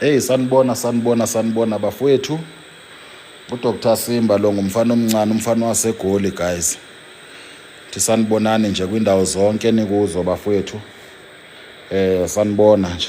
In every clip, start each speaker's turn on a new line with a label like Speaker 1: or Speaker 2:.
Speaker 1: Hey sanibona sanibona sanibona bafowethu. UDr Simba lo ngumfana omncane umfana waseGoli guys. Thi sanibonani nje kwindawo zonke nikuzo bafowethu. Eh sanibona nje.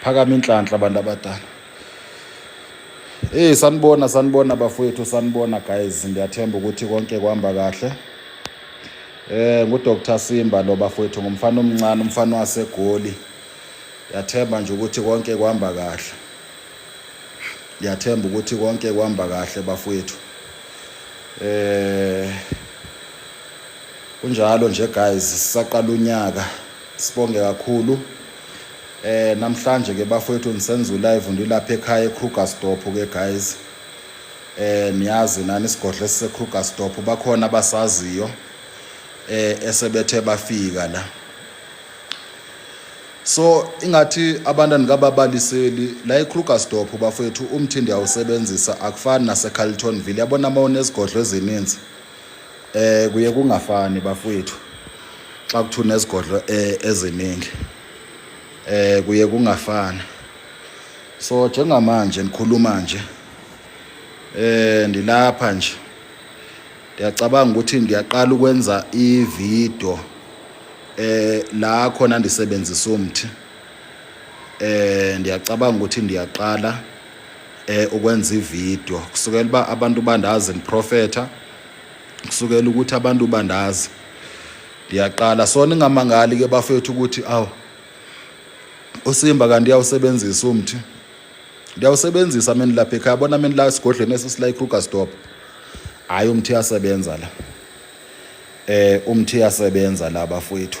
Speaker 1: phakama inhlanhla abantu abadala Hey sanibona sanibona bafowethu sanibona guys ngiyathemba ukuthi konke kuhamba kahle Eh ngu Dr Simba lo bafowethu ngumfana omncane umfana wasegoli Yathemba nje ukuthi konke kuhamba kahle Yathemba ukuthi konke kuhamba kahle bafowethu Eh Kunjalo nje guys sisaqala unyaka sibonge kakhulu eh namhlanje ke bafowethu nisenza ulive ndilapha ekhaya eKrugersdorp ke guys eh niyazi nani isigodlo esiseKrugersdorp bakhona abasaziyo eh esebethe bafika la so ingathi abantu andikababaliseli la eKrugersdorp bafowethu umthindi awusebenzisa akufani naseCarltonville yabona uma unezigodlo ezininzi Eh kuye kungafani bafowethu xa kuthuna izigodlo eh, eziningi eh kuye kungafani so njengamanje nikhuluma nje eh ndilapha nje ndiyacabanga ukuthi ngiyaqala ukwenza ividiyo eh la khona ndisebenzisa umthi eh ndiyacabanga ukuthi ndiyaqala eh ukwenza ivideo kusukela uba abantu bandazi ngiprofetha kusukela ukuthi abantu bandazi ndiyaqala so ningamangali ke bafethu ukuthi aw usimba kanti uyawusebenzisa umthi ndiyawusebenzisa mina lapha ekhaya bona mina la esigodlweni esisila ikrugersdorp hhayi umthi uyasebenza la eh umthi uyasebenza la bafowethu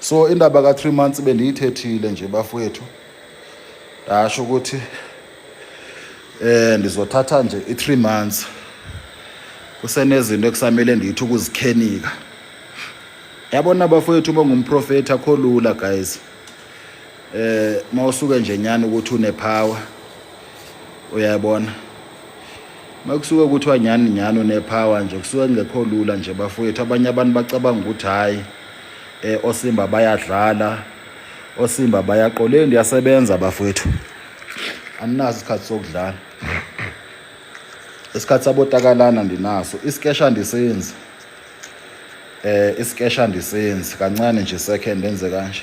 Speaker 1: so indaba ka 3 months bendiyithethile nje bafowethu ndasho ukuthi eh ndizothatha nje i 3 months kusenezinto ekusamele ndithi ukuzikhenika yabona bafowethu bongumprofeti akho lula guys eh mawusuke nje nyana ukuthi une power uyayibona makusuke kuthiwa nyani nyani une power nje kusuke kungekho lula nje bafowethu abanye abantu bacabanga ukuthi hayi eh osimba bayadlala osimba bayaqoleni ndiyasebenza bafowethu aninaso isikhathi sokudlala isikhathi sabotakalana ndinaso isikesha ndisenzi eh isikesha ndisenzi kancane nje second enze kanje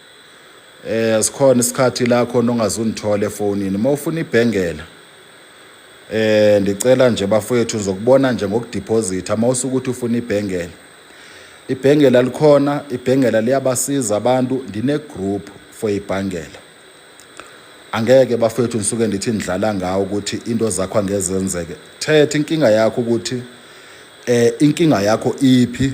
Speaker 1: eh asikhona isikhathi la khona ongazunithola efonini uma ufuna ibhengela eh ndicela nje bafowethu ngizokubona nje ngokudeposit ama usukuthi ufuna ibhengela ibhengela likhona ibhengela liyabasiza abantu ndine group for ibhangela angeke bafowethu ngisuke ndithi ndidlala ngawo ukuthi into zakho angezenzeke thetha inkinga yakho ukuthi eh inkinga yakho iphi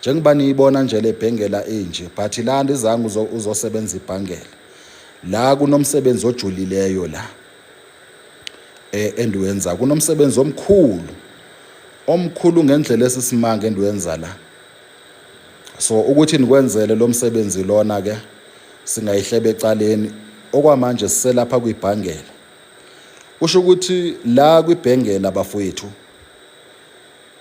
Speaker 1: njengoba niyibona nje le bhengela inje but la ndizange uzosebenza ibhangela la kunomsebenzi ojulileyo la eh endiwenza kunomsebenzi omkhulu omkhulu ngendlela esisimanga endiwenza la so ukuthi nikwenzele lo msebenzi lona ke singayihlebe ecaleni okwamanje siselapha kwibhangela kusho ukuthi la kwibhengela bafowethu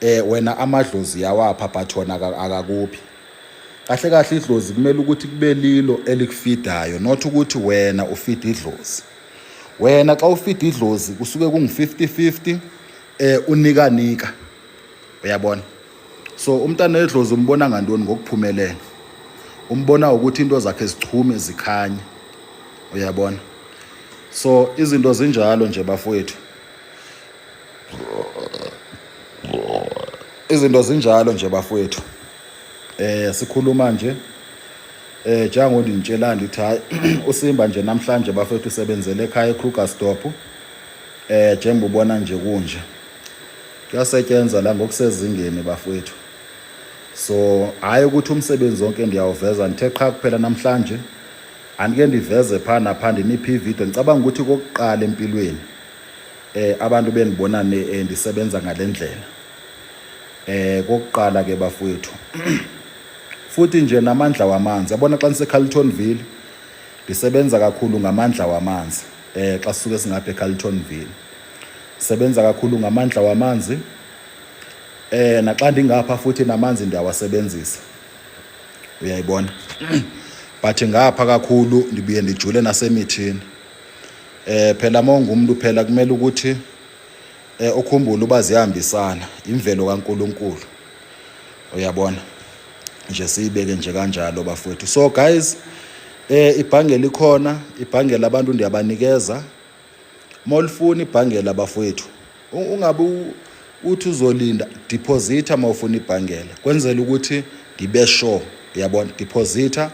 Speaker 1: Eh wena amadlozi yawapha but wona akakuphi. Kahle kahle idlozi kumele ukuthi kube lilo elikufidayo not ukuthi wena ufida idlozi. Wena xa ufida idlozi kusuke kungu-50-50 eh unika nika. Uyabona? So umntana wedlozi umbona ngantoni ngokuphumelela. Umbona ukuthi into zakhe zichume zikhanye. Uyabona? So izinto zinjalo nje bafowethu. izinto zinjalo nje bafowethu eh sikhuluma nje eh jango ndinitshela ndithi hayi usimba nje namhlanje bafethu usebenzele ekhaya eKrugersdorp eh njengoba ubona nje kunje kuyasetyenza la ngokusezingeni bafethu so hayi ukuthi umsebenzi wonke ndiyawuveza ndithe qha kuphela namhlanje andike ndiveze phaa napha ndiniphi ividiyo ngicabanga ukuthi kokuqala empilweni eh abantu bengibona eh, ndisebenza ngalendlela eh kokuqala ke bafowethu futhi nje namandla wamanzi yabona xa niseCarltonville ndisebenza kakhulu ngamandla wamanzi eh xa sisuke singapha eCarltonville sebenza kakhulu ngamandla wamanzi eh naxa ndingapha futhi namanzi ndiyawasebenzisa uyayibona but ngapha kakhulu ndibuye ndijule nasemithini Eh phela mawungumntu phela kumele ukuthi eh ukhumbule uba ziyahambisana imvelo kaNkuluNkulu. Uyabona? Nje siyibeke nje kanjalo bafowethu. So guys eh ibhange likhona, ibhange labantu ndiyabanikeza. Molifuna ibhange labafowethu ungabe uthi uzolinda deposita uma ufuna ibhangela kwenzela ukuthi ngibe sure uyabona deposita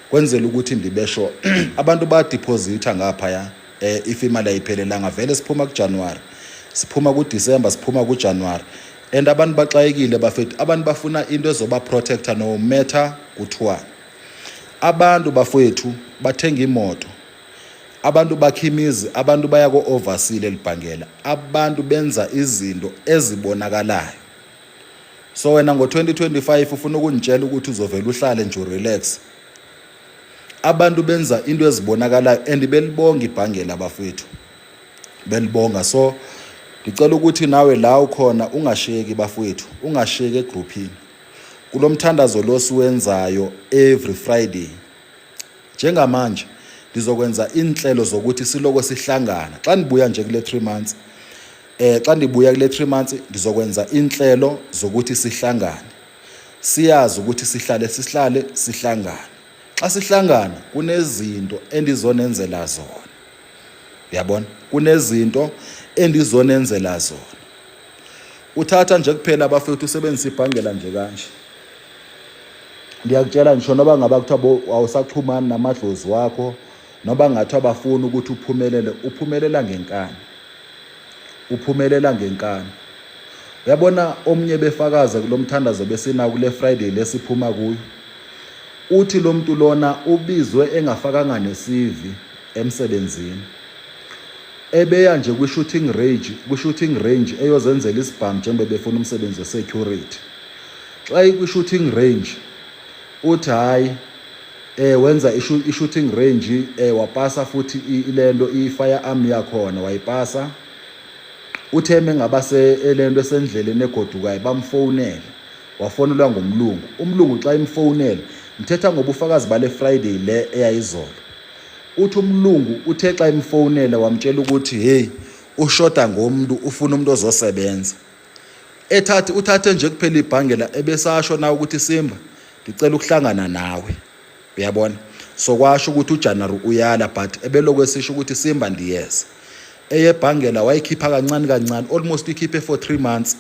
Speaker 1: kwenzela ukuthi ngibe sure abantu badeposita ngaphaya eh if imali ayiphelelanga vele siphuma kuJanuary siphuma kuDecember siphuma kuJanuary and abantu baxayekile bafethu abantu bafuna into ezoba protector no matter kuthiwani abantu bafethu bathenga imoto Abantu bakha imizi, abantu baya ko-overseal elibhangela, abantu benza izinto ezibonakalayo. So wena ngo-2025 ufuna ukungitshela ukuthi uzovele uhlale nje urelax. Abantu benza into ezibonakalayo and belibonga ibhangela bafethu. Belibonga so ngicela ukuthi nawe la ukhona ungasheki bafethu, ungasheki egrouphini. Kulomthandazo lo siwenzayo every Friday. Njengamanje ngizokwenza inhlelo zokuthi siloko sihlangana xa nibuya nje kule 3 months eh xa ndibuya kule 3 months ngizokwenza inhlelo zokuthi sihlangane siyazi ukuthi sihlale sihlale sihlangane xa sihlangana kunezinto endizonenzela zona yabona kunezinto endizonenzela zona uthatha nje kuphela abafethu usebenzisa ibhangela nje kanje ngiyakutshela ngisho noba ngaba kuthiwa awusaxhumani namadlozi wakho noba ngathiwa bafuni ukuthi uphumelele uphumelela ngenkani uphumelela ngenkani uyabona omunye befakaze kulo mthandazo besina kule friday lesiphuma kuyo uthi lo muntu lona ubizwe engafakanga nesivi emsebenzini. Ebeya nje kwi-shooting range kwi-shooting range eyozenzela isibhamu njengoba befuna umsebenzi we-security. Xa ikwi-shooting range uthi hhayi eh wenza i-shooting range eh wapasa futhi ile nto i-fire arm yakhona wayipasa uthe uma engaba le nto esendleleni egodukayo bamfowunele wafonelwa ngumlungu umlungu xa imfowunele ngithetha ngobufakazi bale friday le eyayizolo Uthi umlungu uthe xa emfowunela wamtshela ukuthi hey ushoda ngomntu ufuna umuntu ozosebenza. Ethathe uthathe nje kuphela ibhangela ebesasho na ukuthi Simba ngicela ukuhlangana nawe. Uyabona? So kwasho ukuthi uJanuary uyala but ebelokhu esisho ukuthi Simba ndiyeza. Eyebhangela wayikhipha kancane kancane almost ikhiphe for 3 months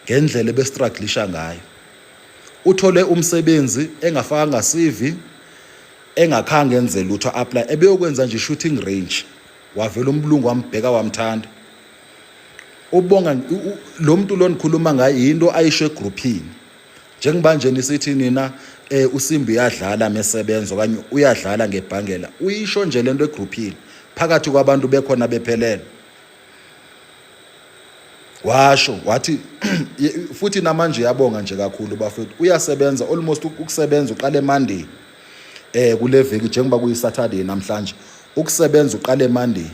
Speaker 1: ngendlela ebestruglisha ngayo. Uthole umsebenzi engafakanga CV engakhange enze lutho apply ebeyokwenza nje shooting range wavela umbulungu wambheka wamthanda ubonga lo muntu lo nikhuluma ngayo yinto ayisho egrouphini njengoba nje nisithi nina eh usimbi uyadlala mesebenza okanye uyadlala ngebhangela uyisho nje lento egrouphini phakathi kwabantu bekhona bephelele washo wathi futhi namanje yabonga nje kakhulu bafethu uyasebenza almost ukusebenza uqale Monday eh kule veki njengoba kuyisaturday namhlanje ukusebenza uqale monday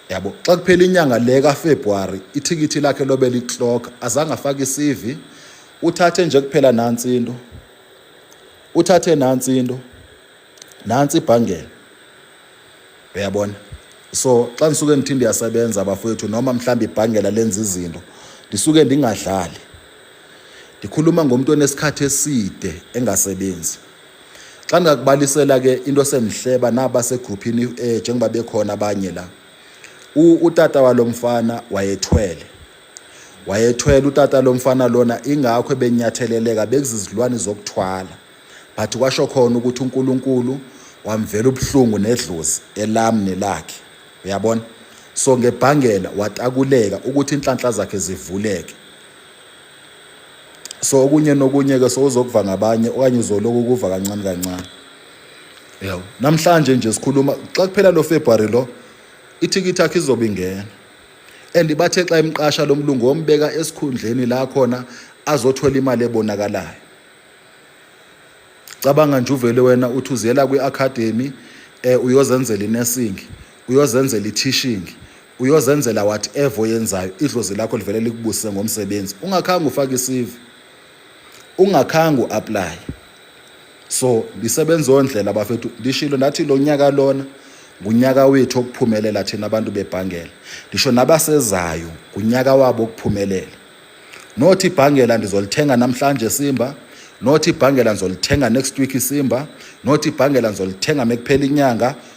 Speaker 1: yabo xa kuphela inyanga le kafebruwari ithikithi lakhe lobe liclock azange afake isivi uthathe nje kuphela nansi into uthathe nansi into nansi ibhangela uyabona so xa ndisuke ngithinde yasebenza bafowethu noma mhlawumbe ibhangela lenza izinto ndisuke ndingadlali Ndikhuluma ngomntu onesikhathi eside engasebenzi. Xa ndingakubalisela ke into sendihleba naba segruphini um eh, njengoba bekhona abanye la utata walo mfana wayethwele wayethwele utata lo mfana lona ingakho ebenyatheleleka bekuzizilwane zokuthwala but kwasho khona ukuthi uNkulunkulu wamvela ubuhlungu nedlozi elam nelakhe uyabona so ngebhangela watakuleka ukuthi inhlanhla zakhe zivuleke so okunye nokunye ke sowuzokuva ngabanye okanye uzoloku kuva kancane kancane yabo namhlanje nje sikhuluma xa kuphela lo February lo ithikithi yakhe izobe ingena and bathe xa imqasha lo mlungu wombeka esikhundleni la khona azothola imali ebonakalayo cabanga nje uvele wena uthi uziyela kwi-academy um uyozenzela inesingi uyozenzela i-tishing Uyozenzela whatever oyenzayo idlozi lakho livele likubusise ngomsebenzi ungakhange ufake isivi ungakhange uapply so lisebenza ondlela bafethu lishilo nathi lo nyaka lona ngunyaka wethu okuphumelela thina abantu bebhangela ngisho nabasezayo ngunyaka wabo okuphumelela nothi ibhangela ndizolithenga namhlanje simba nothi ibhangela ngizolithenga next week isimba nothi ibhangela ngizolithenga mekuphela inyanga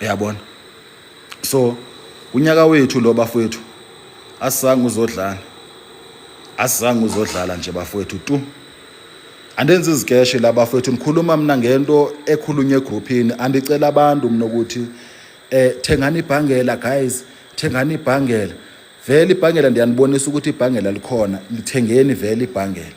Speaker 1: uyabona so unyaka wethu lo bafowethu asizange uzodlana asizange uzodlala nje bafowethu tu andenzi izikeshe la bafowethu ngikhuluma mina ngento ekhulunywa egruphini andicela abantu mina ukuthi eh thengani ibhangela guys thengani ibhangela vele ibhangela ndiyanibonisa ukuthi ibhangela likhona lithengeni vele ibhangela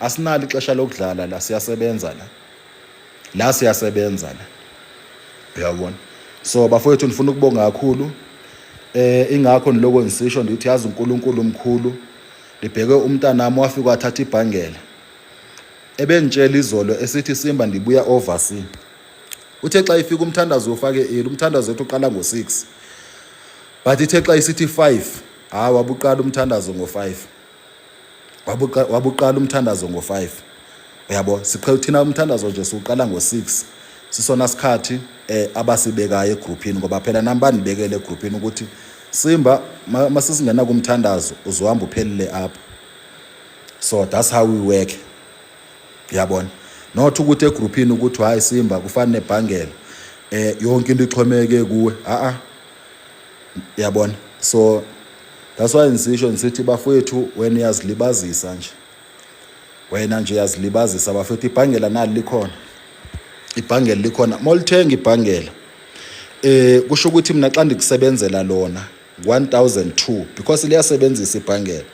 Speaker 1: asinalo ixesha lokudlala la siyasebenza la la siyasebenza la uyabona so bafowethu ndifuna ukubonga kakhulu eh ingakho niloko ngisisho ndithi yazi uNkulunkulu umkhulu libheke umntanami wafika wathatha ibhangela ebengitshela izolo esithi simba ndibuya oversea uthe xa ifika umthandazo ufake eli umthandazo wethu uqala ngo-6 but ithe xa isithi 5 hayi wabuqala umthandazo ngo-5 wabuqala umthandazo ngo-5 uyabo siqhela thina umthandazo nje siwuqala ngo-6 sisona sikhathi eh abasibekayo egrouphini ngoba phela nami banibekele egrouphini ukuthi simba masisingena kumthandazo uzohamba uphelile apha so that's how we work uyabona not ukuthi egrouphini ukuthi hayi simba kufanele nebhangela eh yonke into ixhomeke kuwe a a yabona so that's why ngisisho ngisithi bafowethu wena uyazilibazisa nje wena nje uyazilibazisa bafowethu ibhangela nali likhona ibhangela likhona molithenga ibhangela eh kusho ukuthi mina xa ndikusebenzela lona 1002 because liyasebenzisa ibhangela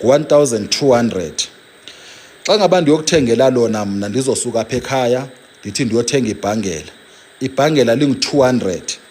Speaker 1: 1200 xa ngaba ndiyokuthengela lona mna ndizosuka apha ekhaya ndithi ndiyothenga ibhangela ibhangela lingu-200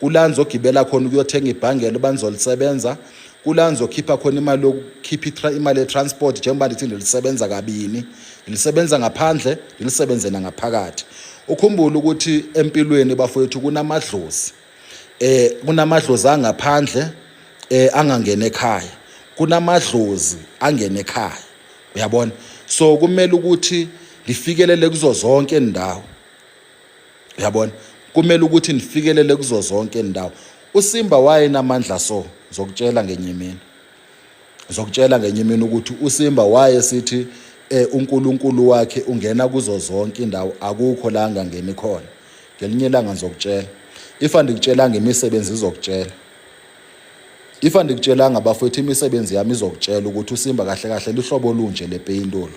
Speaker 1: kula ngizogibela khona ukuyothenga ibhangelo banizolisebenza kula ngizokhipha khona imali yokukhipha imali ye-transport njengoba ndithi ndilisebenza kabini ndilisebenza ngaphandle ndilisebenze nangaphakathi ukhumbule ukuthi empilweni bafowethu kunamadlozi eh kunamadlozi angaphandle eh angangena ekhaya kunamadlozi angena ekhaya uyabona so kumele ukuthi ngifikelele kuzo zonke indawo yabona kumele ukuthi nifikelele kuzo zonke indawo usimba wayenamandla so zokutshela ngenye imini zokutshela ngenye imini ukuthi usimba waye sithi eh uNkulunkulu wakhe ungena kuzo zonke indawo akukho la angangeni khona ngelinye ilanga ngizokutshela ifa ndikutshela ngemisebenzi izokutshela ifa ndikutshelanga bafowethu imisebenzi yami izokutshela ukuthi usimba kahle kahle luhlobo olunje lepeyintolo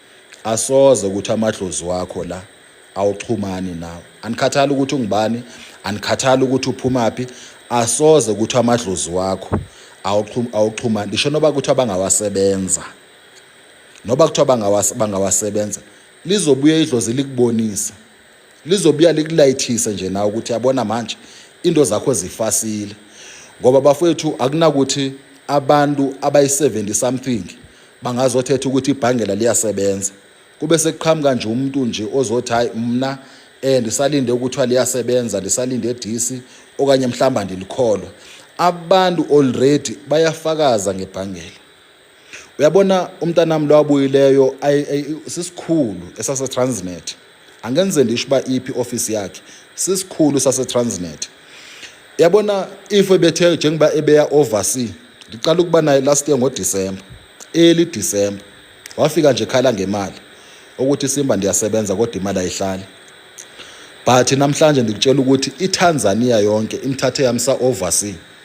Speaker 1: asoze ukuthi amadlozi wakho la awuxhumani nawe anikhathali ukuthi ungubani anikhathali ukuthi uphumaphi asoze ukuthi amadlozi wakho awuxhumani ngisho noba kuthiwa bangawasebenza noba kuthiwa bangawasebenza lizobuya idlozi likubonisa lizobuya likulayithise nje nawe ukuthi yabona manje into zakho zifasile ngoba bafowethu akunakuthi abantu abayi-70 something bangazothetha ukuthi ibhangela liyasebenza kube sekuqhamuka nje umuntu nje ozothi hayi mna eh ndisalinde ukuthiwa liyasebenza ndisalinde disi okanye mhlawumbe andilikholwa abantu already bayafakaza ngebhangela uyabona umntanami lowabuyileyo sisikhulu esasetransnet angenze ndisho uba iphi ofisi yakhe sisikhulu sasetransnet yabona if ebethe njengoba ebeya oversea ndiqala ukuba naye last year ngodisemba eli disemba wafika nje khala ngemali ukuthi simba ndiyasebenza kodwa imali ayihlali but namhlanje ndikutshela ukuthi itanzania yonke imthathe yamsa oversea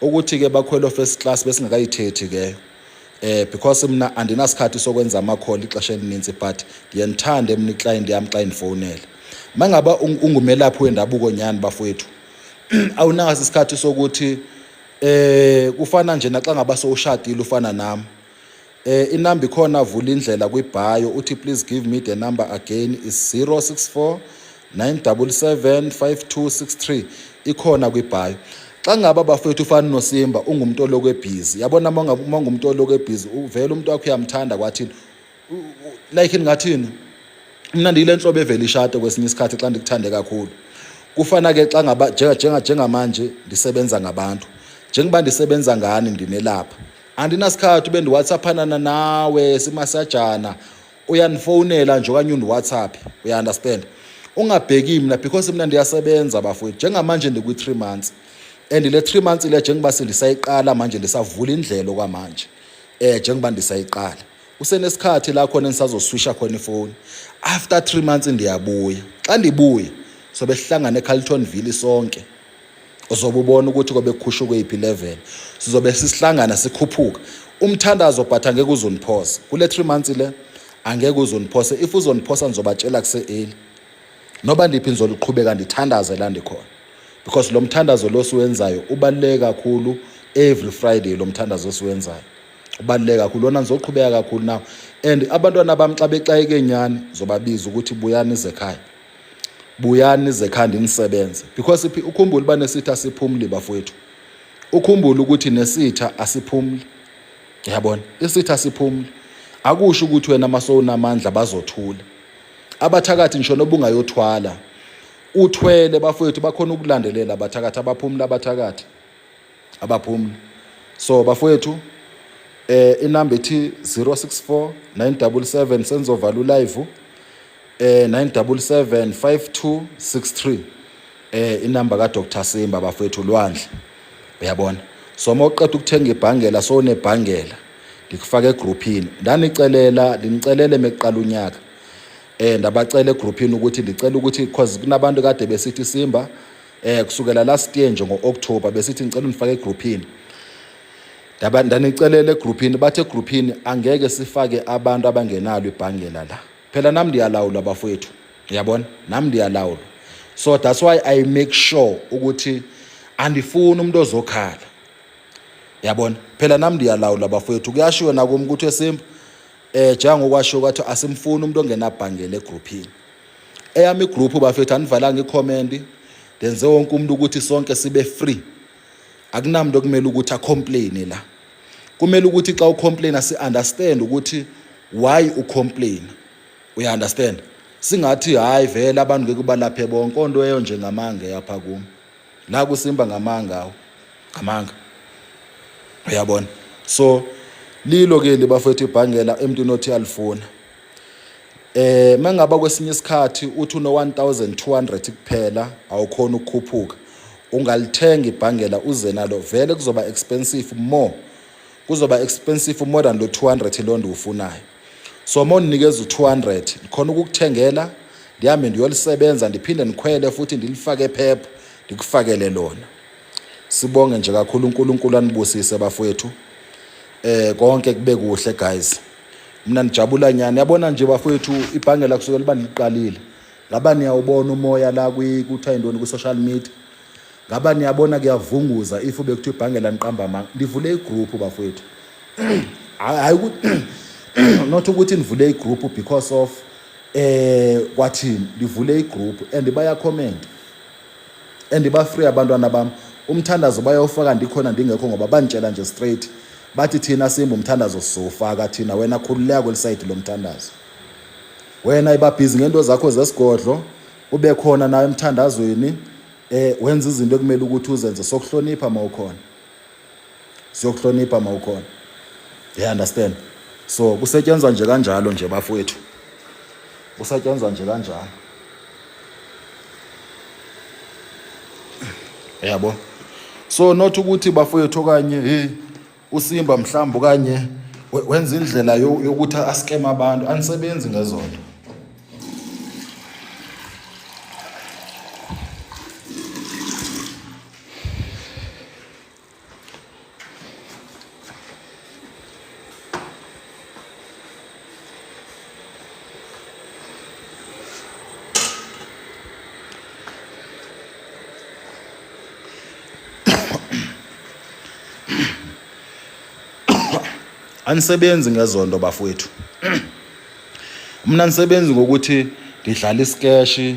Speaker 1: ukuthi ke bakhwelo first class besingakayithethi ke eh because mina andinasikhathi sokwenza ama call ixesha elininzi but ngiyenithanda emni client yami xa indifonela mangaba ungumelaphi wendabuko nyani bafowethu awunaso isikhathi sokuthi eh kufana nje naxa ngaba sowushadile ufana nami Eh inamba ikhona vula indlela kwibhayo uthi please give me the number again is 064 977 5263 ikhona kwibhayo. Xa ngaba bafethu ufana noSimba ungumuntu oloko ebhizi. Yabona uma ngabe uma ungumuntu oloko ebhizi uvela umuntu wakho uyamthanda kwathini? Like ngathini? Mina ndiyile nhlobo evela ishade kwesinye isikhathi xa ndikuthande kakhulu. Kufana ke xa ngaba njenga njengamanje ndisebenza ngabantu. Njengoba ndisebenza ngani ndinelapha. andinasikhathi ube ndiwhatsaphanana nawe simasajana uyanifonela nje okanye undiwhatsapp uya-understand ungabheki mna because mna ndiyasebenza bafowethu njengamanje ndikwi-three months and le three months le njengoba sendisayiqala manje ndisavula indlela okwamanje um njengoba ndisayiqala usenesikhathi la khona endisazoswisha khona ifowuni after three months ndiyabuya xa ndibuya sobe sihlangane ecarlton ville sonke uzobe ubona ukuthi kobe kukhushuke iphi level sizobe sisihlangana sikhuphuka umthandazo but angeke uzoniphosa kule 3 months le angeke uzoniphosa if uzoniphosa nizobatshela kuse-eli noba ndiphi nizoliqhubeka ndithandaze la ndikhona because lo mthandazo lo siwenzayo ubaluleke kakhulu every friday lo mthandazo siwenzayo ubaluleke kakhulu lona nizoqhubeka kakhulu nawo and abantwana bami xa bexayeke nyani zobabiza ukuthi buyani izekhaya buyani zekhanda inisebenze because ukhumbule uba nesitha asiphumli bafowethu ukhumbule ukuthi nesitha asiphumli yabona isitha asiphumli akusho ukuthi wena masowunamandla bazothula abathakathi ngisho nobungayothwala uthwele bafowethu bakhona ukulandelela abathakathi abaphumula abathakathi abaphumula so bafowethu eh inamba ethi 064 977 senzovala ulive eh 977 5263 eh inamba ka Dr Simba bafethu Lwandle uyabona so uma uqeda ukuthenga ibhangela so unebhangela ngikufaka egrouphini ndanicelela ndinicelele mekuqala unyaka eh ndabacela egrouphini ukuthi ndicela ukuthi because kunabantu kade besithi Simba eh kusukela last year nje ngoOctober besithi ngicela unifake egrouphini ndaba ndanicelela egrouphini bathe egrouphini angeke sifake abantu abangenalo ibhangela la phela nami ndiyalawulwa bafowethu yabona nami ndiyalawulwa so that's why i make sure ukuthi andifuni umuntu ozokhala yabona phela nami ndiyalawula bafowethu kuyashiwo nakum ukuthi esimba eh njengokwashiwo kwathi asimfuni umuntu ongenabhangele egroupini eyami igroup bafethu anivalanga icomment ndenze wonke umuntu ukuthi sonke sibe free akunamntu okumele ukuthi acomplaine la kumele ukuthi xa ucomplaina si-understand ukuthi why ucomplaina uya-understand singathi hhayi vele abantu ngeke ubalaphe bonke onto eyo nje ngamanga eyapha kumi la kusimba ngamanga awo ngamanga uyabona so lilo ke libafowethu ibhangela emntwini othi alifuna Eh mangaba kwesinye isikhathi uthi uno 1200 kuphela awukhona ukukhuphuka ungalithenga ibhangela uze nalo vele kuzoba expensive more kuzoba expensive more than lo 200 lo ndiwufunayo so uma unikeza u200 ndikhona ukukuthengela ndihambe ndiyolisebenza ndiphinde ndikhwele futhi ndilifake phepha ndikufakele lona sibonge nje kakhulu uNkulunkulu anibusise bafowethu eh konke kube kuhle guys mina nijabula nyani yabona nje bafowethu ibhange la kusukela uba niliqalile ngaba niyawubona umoya la kuthiwa yintoni kwi-social media ngaba niyabona kuyavunguza if bekuthiwa ibhange laniqamba amanga ndivule igroup bafowethu hayi not ukuthi nivule igroup because of eh kwathini livule igroup and bayakhomenta and ba free abantwana bam umthandazo bayawufaka ndikhona ndingekho ngoba banditshela nje straight bathi thina simba umthandazo sizowufaka thina wena khululeka kwelisayidi lomthandazo wena ibabhizi ngento zakho zesigodlo ube khona nawe emthandazweni eh wenza izinto ekumele ukuthi uzenze sokuhlonipha mawukhona siyokuhlonipha mawukhona you understand so kusetshenzwa nje kanjalo nje bafowethu kusetshenzwa nje kanjalo yabo so not ukuthi bafowethu okanye hey usimba mhlawumbe okanye wenza indlela yokuthi askema abantu anisebenzi ngezonto anisebenzi ngezonto bafowethu mna nisebenzi ngokuthi ngidlala isikeshi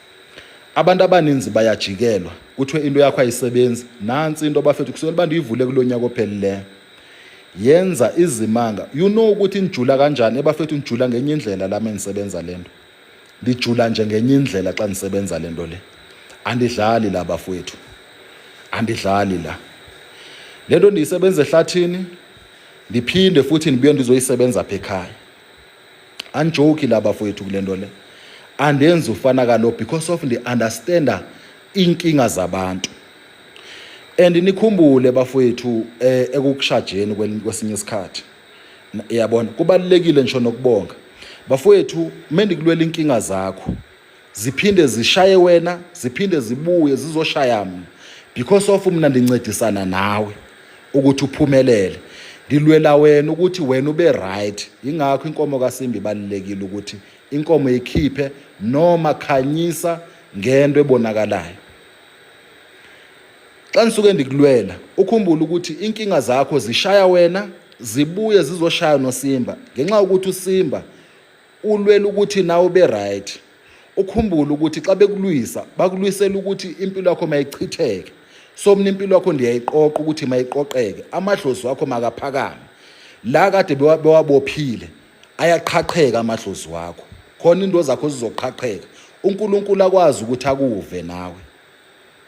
Speaker 1: Abantu abaninzi bayajikelwa kuthiwe into yakho ayisebenzi nansi into bafethu kusukela abantu yivule kulo nyaka ophelileyo yenza izimanga you know ukuthi nijula kanjani ebafethu nijula ngenye indlela lami engisebenza lento ndijula nje ngenye indlela xa ndisebenza lento le andidlali la bafowethu andidlali la lento ndiyisebenza ehlathini ndiphinde futhi ndibuye ndizoyisebenza apha ekhaya anjoki la bafowethu kule nto le andenzi ufana kalo because of ndi-understanda iinkinga zabantu and nikhumbule bafowethu eh, ekukushajeni kwesinye isikhathi yabona kubalulekile ngisho nokubonga bafowethu uma ndikulwela inkinga zakho ziphinde zishaye wena ziphinde zibuye zizoshaya mina because of mina ndincedisana nawe ukuthi uphumelele ngilwela wena ukuthi wena ube right yingakho inkomo kasimbi ibalulekile ukuthi inkomo ikhiphe noma khanyisa ngento ebonakalayo xa ngisuke ndikulwela ukhumbule ukuthi inkinga zakho zishaya wena zibuye zizoshaya nosimba ngenxa yokuthi usimba ulwela ukuthi nawe ube right ukhumbule ukuthi xa bekulwisa bakulwisela ukuthi impilo yakho mayichitheke so mina impilo yakho ndiyayiqoqa ukuthi mayiqoqeke amadlozi wakho makaphakame la kade bewabophile ayaqhaqheka amadlozi wakho khona into zakho zizoqhaqheka uNkulunkulu akwazi ukuthi akuve nawe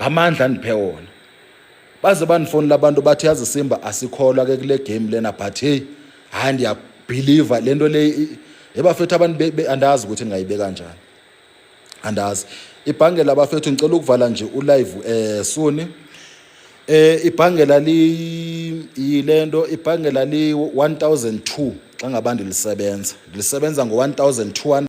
Speaker 1: ngamandla andiphe wona baze bandifonela abantu bathi yazi simba asikholwa ke kule game lena but hey hayi ndiyabhiliva le nto le ebafethu abantu andazi ukuthi ndingayibeka kanjani andazi ibhangela abafethu ngicela ukuvala nje ulive eh suni eh ibhangela li yilento ibhangela li 1002 xa ngabandi lisebenza lisebenza ngo 1200